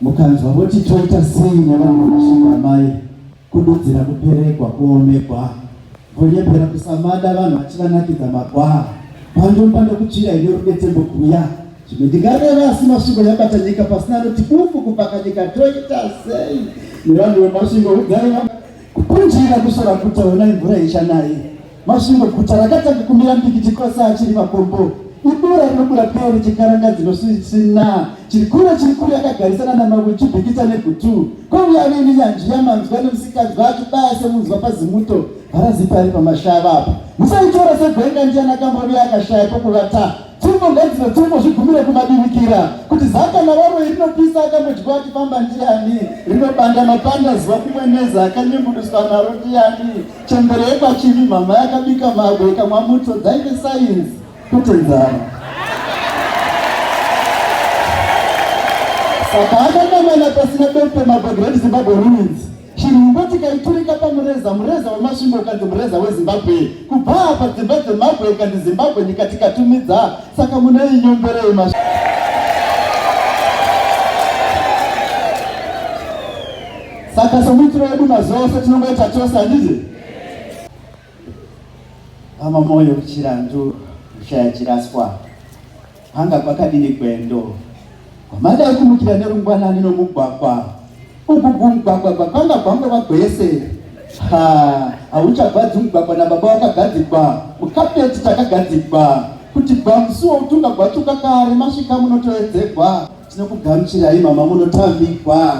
mukanzwa voti toita sei nevanhu vashinga mai kududzira kuperekwa kuomekwa vonyepera kusamada vanhu vachivanakidza magwaa pandomba ndokutsvira ine rudetembo kuya zvimwe ndingareva asi masvingo yabata nyika pasina anoti bufu kubvaka nyika toita sei nevanhu vemasvingo udzai kupunjira kusora kutaona imvura ichanaye Masvingo guta rakatanga kumira mbikiti kwese achiri makombo ibura rinobura peo richikaranga dzinosisina chiri kure chiri kure akagarisana namamwe chibikita negutu kwauya ave nenyanzvi yamanzwa nemusikadzwa achibaya semunzwa pazimuto harazipari pamashava apa musaitora segwenga ndiana kambovi akashaya pokuvata Pfumbo ngadzine pfumbo zvigumire kumadimikira kuti zaka navaroi rinopisa akambodywa achifamba ndiani rinobanda mapanda zuva kumwe neza akanyunguduswa naro ndiani chembere yekwachimi mhamha yakabika magwe ikamwa muto dzainge sainzi kuti nzara saka akanamana pasina dope magwe great zimbabwe ruins Chirumbo tikaiturika pamureza, mureza wemasvingo ukanzi mureza weZimbabwe. Kubva apa dzimba dzeMabwe ikanzi Zimbabwe nyika tikatumidza, saka munei nyomberei masvingo. Saka somuitiro wedu mazuva ose tinongoita chose handiti? Hama moyo chirandu kushaya chiraswa. Kwanga kwakadini gwendo kwamada kumukira nerungwanani nomugwagwa uku kumugwagwa kwakanga kwangova gwese ha hauchagwadzi mugwagwa nababa wakagadzikwa mukapeti takagadzikwa kuti gwamusuwa utunga gwachuka kare masvika munotoedzegwa Tinokugamuchirai mama munotambigwa.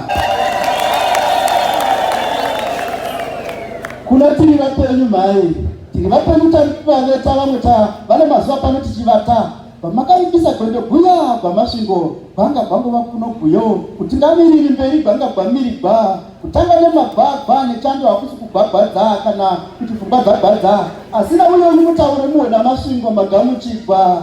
Kuna tiri vapenyu mhai tiri vapenyu taveta vamwe ta vane mazuva pano tichivata vamakaibisa gwendo guya gwamasvingo gwanga gwangova kuno guyo kuti ngamiriri mberi gwanga gwamiri gwa kutanga nemagwagwa nechando hakusi kugwagwadza kana kuti pfungwa dzagwadza asina uyo uri mutauro muhwena masvingo magamuchigwa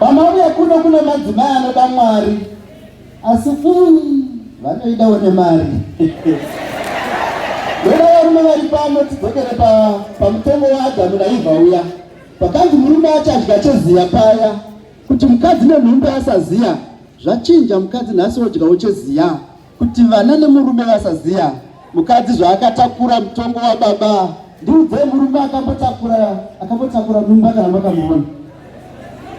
Pamauya kuno kune madzimai anoda Mwari asi um, vanoidawo nemari Vana varume vari pano tidzokere pamutongo waAdhamu naEvha uya pakanzi murume achadya cheziya paya kuti mukadzi nenhumbi asaziya zvachinja mukadzi nhasi wodyawo cheziya Kuti vana nemurume vasaziya mukadzi zvaakatakura mutongo wababa. Ndiudzei murume akambotakura akambotakura mimba kana makamuona?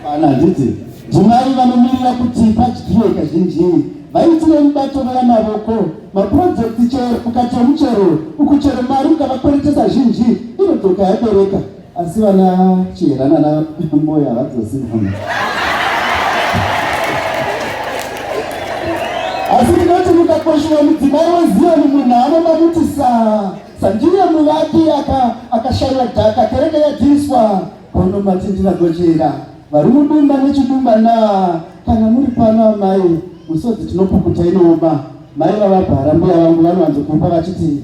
Hapana, handiti ndimai vanomirira kuti padyiwe kazhinji vaitire mibato veyamavoko maprojekti chero ukatya muchero ukuchero mari ukavakweretesa zhinji inodzoka yabereka Asi vana Chihera nana Mboya havadzosingana. Asi ndinoti mukakoshiwa mudzimai weZioni munhu anoda kuti sa sandiye muvaki akashaiwa dhaka kereke yadhiriswa kono mati ndinagochera vari mudumba nechidumba na kana muri pano amai musodzi tinopukuta inooma mai vavabhara mbuya vangu vanowanzokupa vachiti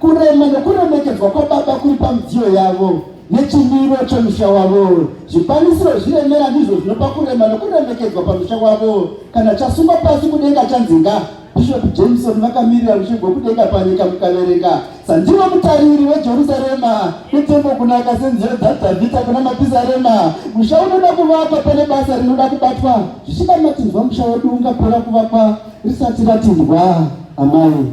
Kurema nokuremekedzwa kwababa kuri pamidziyo yavo nechimiro chomusha wavo. Zvikwanisiro zviremera ndizvo zvinopa kurema nokuremekedzwa pamusha wavo. Kana chasungwa pasi kudenga chanzinga Bishop Jameson vakamirira rushingo kudenga panyika mukaverenga sandivo mutariri wejerusarema netembo kunaka senzira dzadhavhita kuna mapizarema musha unoda kuvakwa pane basa rinoda kubatwa zvichida matinzwa musha wedu ungapera kuvakwa risati ratindwa amai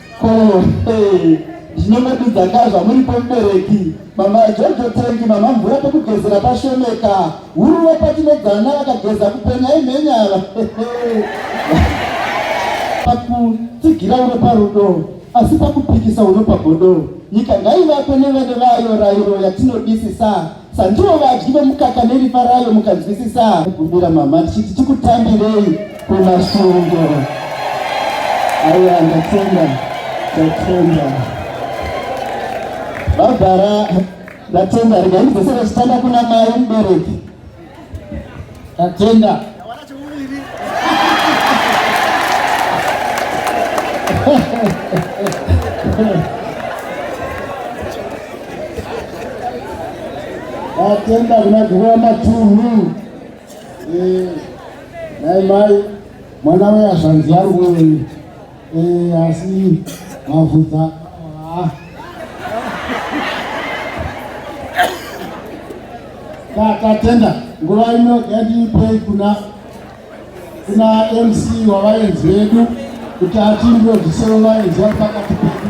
Ko hey, ndinongodudza ka zvamuripo mubereki mama jojo tengi mama mvura pekugezera pashomeka huruva patinodzana vakageza kupenya imhenyava pakutsigira uno parudo asi pakupikisa uno pagodo nyika ngaivakwe nevene vayo rairo yatinodisisa Sandiwo vadyi vemukaka neriva rayo mukanzwisisa kumbira mama tichiti tikutambirei kumasvingo aiwa ndatenda ndatenda vabhara ndatenda regai ndidzesere chitanda kuna mai mubereki Tatenda. Tatenda kuna Gurwa Matunhu. Eh, naye mai mwana weya zvanzi yangu Eh, asi mavhudza tatenda nguva ino yandiipei kuna kuna mc wavaenzi vedu kuti atindodzisewo vaenzi vari pakati pedu